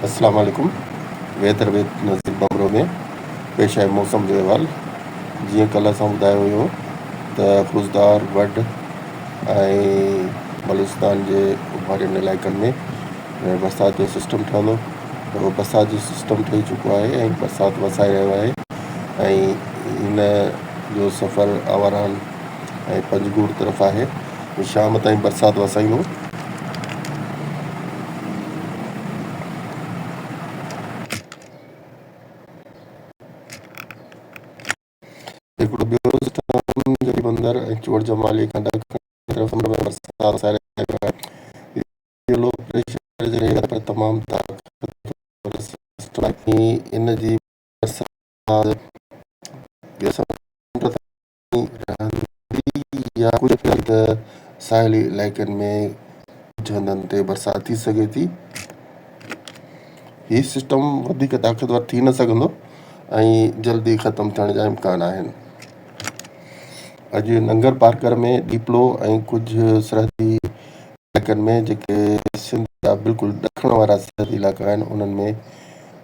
اسلام عليڪم weather with Nazir Bhambhro ۾ پيش آيل موسم جو احوال جيئن ڪلهه اسان ٻڌايو هيو ته خضدار وڍ ۽ بلوچستان جي اوڀارين علائقن ۾ برسات جو سسٽم ٺهندو اهو برسات جو سسٽم ٺهي چڪو آهي ۽ برسات وسائي رهيو آهي ۽ هن جو سفر آواران ۽ پنجگور طرف آهي جو شام تائين برسات وسائيندو. هڪڙو ٻيو سسٽم جو بندر ۽ چوڙ جمالي کان ڏکڻ طرف سمنڊ ۾ برسات وسائي رهيو آهي، اهو لو پريشر جي رينج آهي پر تمام طاقتور سسٽم آهي ۽ ان جي برسات ٻيو سمنڊ تائين رهندي يا ڪجهه ڪري ته ساحلي علائقن ۾ ڪجهه هنڌن تي برسات ٿي سگهي ٿي. هي سسٽم وڌيڪ طاقتور ٿي نه سگهندو ۽ جلدي ختم ٿيڻ جا امڪان آهن. اڄ ننگرپارڪر ۾ ڏيپلو ۽ ڪجهه سرحدي علائقن ۾ جيڪي سنڌ جا بلڪل ڏکڻ وارا سرحدي علائقا آهن انهن ۾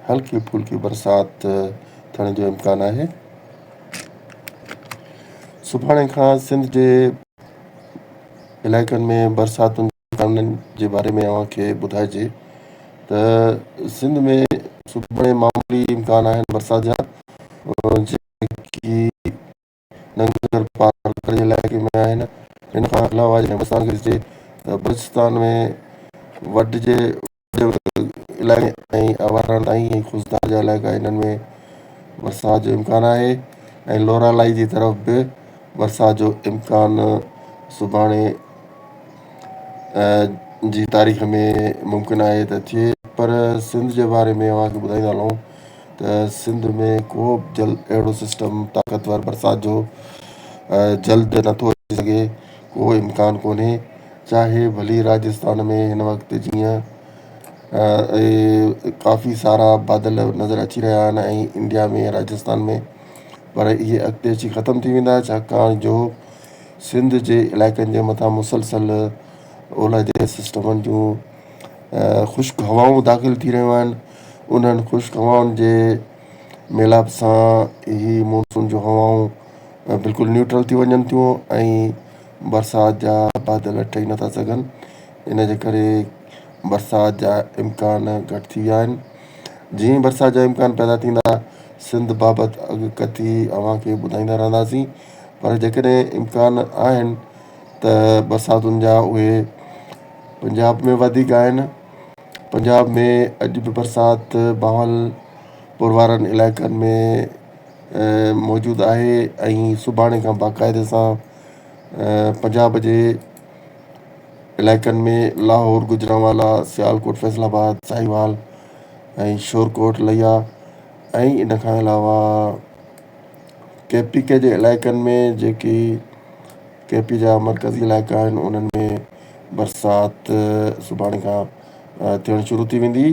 هلڪي ڦلڪي برسات ٿيڻ جو امڪان آهي سڀاڻي کان سنڌ جي علائقن ۾ برساتن جي امڪانن جي باري ۾ اوهان کي ٻڌائجي ته سنڌ ۾ سڀاڻي معمولي امڪان آهن برسات جا جيڪي ننگر پار ڪري علائقي ۾ آهن. ان کان علاوه جڏهن بلوچستان کي ڏسجي ته بلوچستان ۾ وڍ جي وڏي وڏي علائقن ۽ اوهاڻن تائين ۽ خضدار جا علائقا انهن ۾ برسات جو امڪان آهي ۽ لورالاهي جي طرف به برسات جو امڪان سڀاڻي جي تاريخ ۾ ممڪن آهي ته ٿئي پر سنڌ جي باري ۾ اوهان کي ٻڌائيندا هلون ته سنڌ ۾ ڪوبه جلد اهڙو سسٽم طاقتور برسات جو جلد نه ٿو اچي سگهي ڪو امڪان ڪونهي چاهي ڀلي راجستان ۾ هن وقت جيئن ڪافي سارا بادل نظر اچي رهيا آهن ۽ انڊيا ۾ راجستان ۾ پر اهي اڳتي اچي ختم ٿي ويندا ڇاڪاڻ جو سنڌ جي علائقن جي مٿان مسلسل اولهه جي سسٽمن جون خشڪ هوائون داخل ٿي رهيون آهن انهن خشڪ هوائن جي ميلاپ سان هي مونسون جون هوائون بلڪل نيوٽرل ٿي وڃن ٿيون ۽ برسات جا بادل ٺهي نٿا سگهن ان جي ڪري برسات جا امڪان گهٽ ٿي ويا آهن جيئن ئي برسات جا امڪان پيدا ٿيندا سنڌ بابت اڳڪٿي اوهان کي ٻڌائيندا رهنداسين پر جيڪڏهن امڪان آهن ته برساتن جا اهي پنجاب ۾ وڌيڪ آهن پنجاب ۾ اڄ به برسات بهاول پور وارن علائقن ۾ موجود آهي ۽ سڀاڻي کان باقاعدي سان پنجاب جي علائقن ۾ لاهور، گجرانوالا، سيالڪوٽ، فيصل آباد، ساهيوال ۽ شورڪوٽ، ليا ۽ ان کان علاوه ڪي پي ڪي جي علائقن ۾ جيڪي ڪي پي جا مرڪزي علائقا آهن انهن ۾ برسات سڀاڻي کان ٿيڻ شروع ٿي ويندي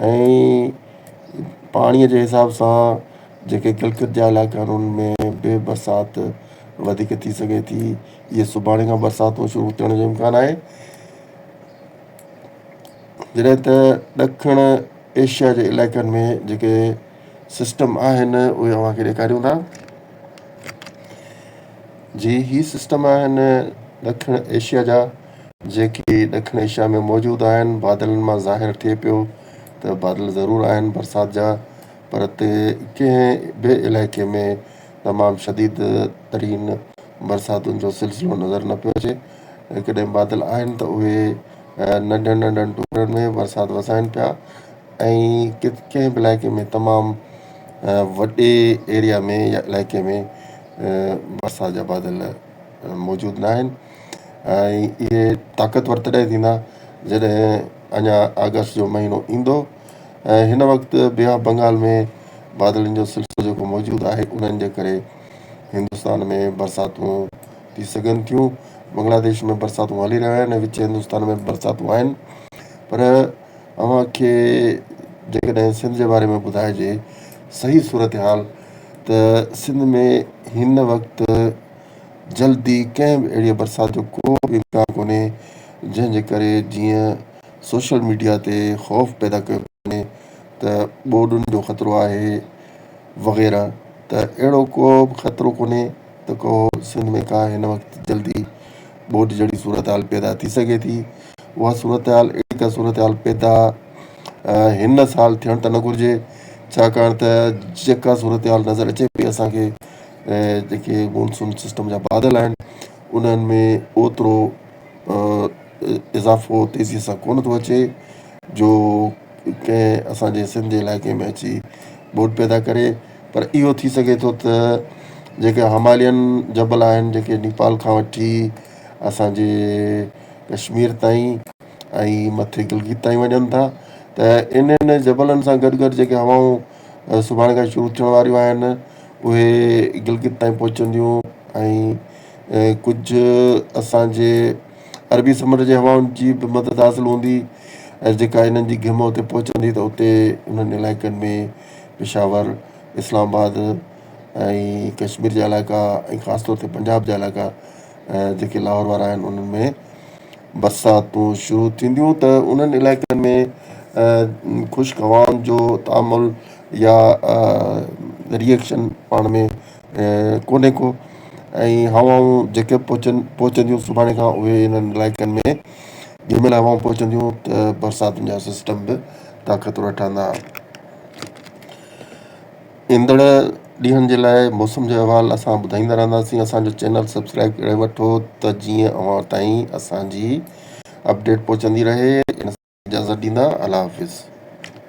۽ پاڻي جي حساب سان جيڪي گلگت جا علائقا آهن انهن ۾ به برسات وڌيڪ ٿي سگهي ٿي اهي سڀاڻي کان برساتون شروع ٿيڻ جو امڪان آهي جڏهن ته ڏکڻ ايشيا جي علائقن ۾ جيڪي سسٽم آهن اهي اوهان کي ڏيکاريون ٿا جي هي سسٽم آهن ڏکڻ ايشيا جا جيڪي ڏکڻ ايشيا ۾ موجود آهن بادلن مان ظاهر ٿئي پيو ته بادل ضرور آهن برسات جا پر تي ڪنهن به علائقي ۾ تمام شديد ترين برساتن جو سلسلو نظر نه پيو اچي ڪڏهن بادل آهن ته اهي ننڍن ننڍن ٽڪرن ۾ برسات وسائن پيا ۽ ڪنهن به علائقي ۾ تمام وڏي ايريا ۾ يا علائقي ۾ برسات جا بادل موجود نه آهن ۽ اهي طاقتور تڏهن ٿيندا جڏهن اڃا آگسٽ جو مهينو ايندو ۽ هن وقت بي آف بنگال ۾ بادلن جو سلسلو جيڪو موجود آهي انهن جي ڪري هندستان ۾ برساتون ٿي سگهن ٿيون بنگلاديش ۾ برساتون هلي رهيون آهن ۽ وچ هندستان ۾ به برساتون آهن پر اوهان کي جيڪڏهن سنڌ جي باري ۾ ٻڌائجي صحيح صورتحال ته سنڌ ۾ هن وقت جلدي ڪنهن به اهڙيء برسات جو ڪو به امڪان ڪونهي جنهن جي ڪري جيئن سوشل ميڊيا تي خوف پيدا ڪيو پيو وڃي ته ٻوڏن جو خطرو آهي وغيره ته اهڙو ڪو به خطرو ڪونهي ته ڪو سنڌ ۾ ڪا هن وقت جلدي ٻوڏ جهڙي صورتحال پيدا ٿي سگهي ٿي. اها صورتحال اهڙي ڪا صورتحال پيدا هن سال ٿيڻ ته نه گهرجي، ڇاڪاڻ ته جيڪا صورتحال نظر اچي پئي اسان کي جيڪي مونسون سسٽم جا بادل آهن انهن ۾ اوترو اضافو تيزي سان ڪونه ٿو اچي جو ڪنهن اسان جي سنڌ جي علائقي ۾ اچي ٻوڏ پيدا ڪري. پر اهو ٿي سگهي ٿو ته جيڪي همالين جبل آهن جيڪي نيپال کان وٺي اسان جي ڪشمير تائين ۽ مٿي گلگت تائين وڃن ٿا ته انهن جبلن سان گڏ گڏ جيڪي هوائون سڀاڻي کان شروع ٿيڻ واريون آهن اهي گلگت تائين پهچنديون ۽ ڪجهه اسان جي عربي سمنڊ جي هوائن جي به مدد حاصل هوندي ۽ جيڪا انهن جي گهمه اتي پهچندي ته اتي انهن علائقن ۾ پشاور، اسلام آباد ۽ ڪشمير جا علائقا ۽ خاص طور تي پنجاب جا علائقا جيڪي لاهور وارا آهن انهن ۾ برساتون شروع ٿينديون ته انهن علائقن ۾ خشڪ هوائن جو تعامل يا ري ايڪشن پاڻ ۾ ڪونهي ڪو ۽ هوائون جيڪي پهچن پهچنديون سڀاڻي کان اهي انهن علائقن ۾ جنهن مهل هوائون پهچنديون ته برساتن جا سسٽم به طاقتور ٺهندا. ايندڙ ڏينهن جي لاء موسم جو احوال اسان ٻڌائيندا رهنداسين اسان جو چينل سبسڪرائيب ڪري وٺو ته جيئن اوهان تائين اسان جي اپڊيٽ پهچندي رهي ان سان اجازت ڏيندا الله حافظ.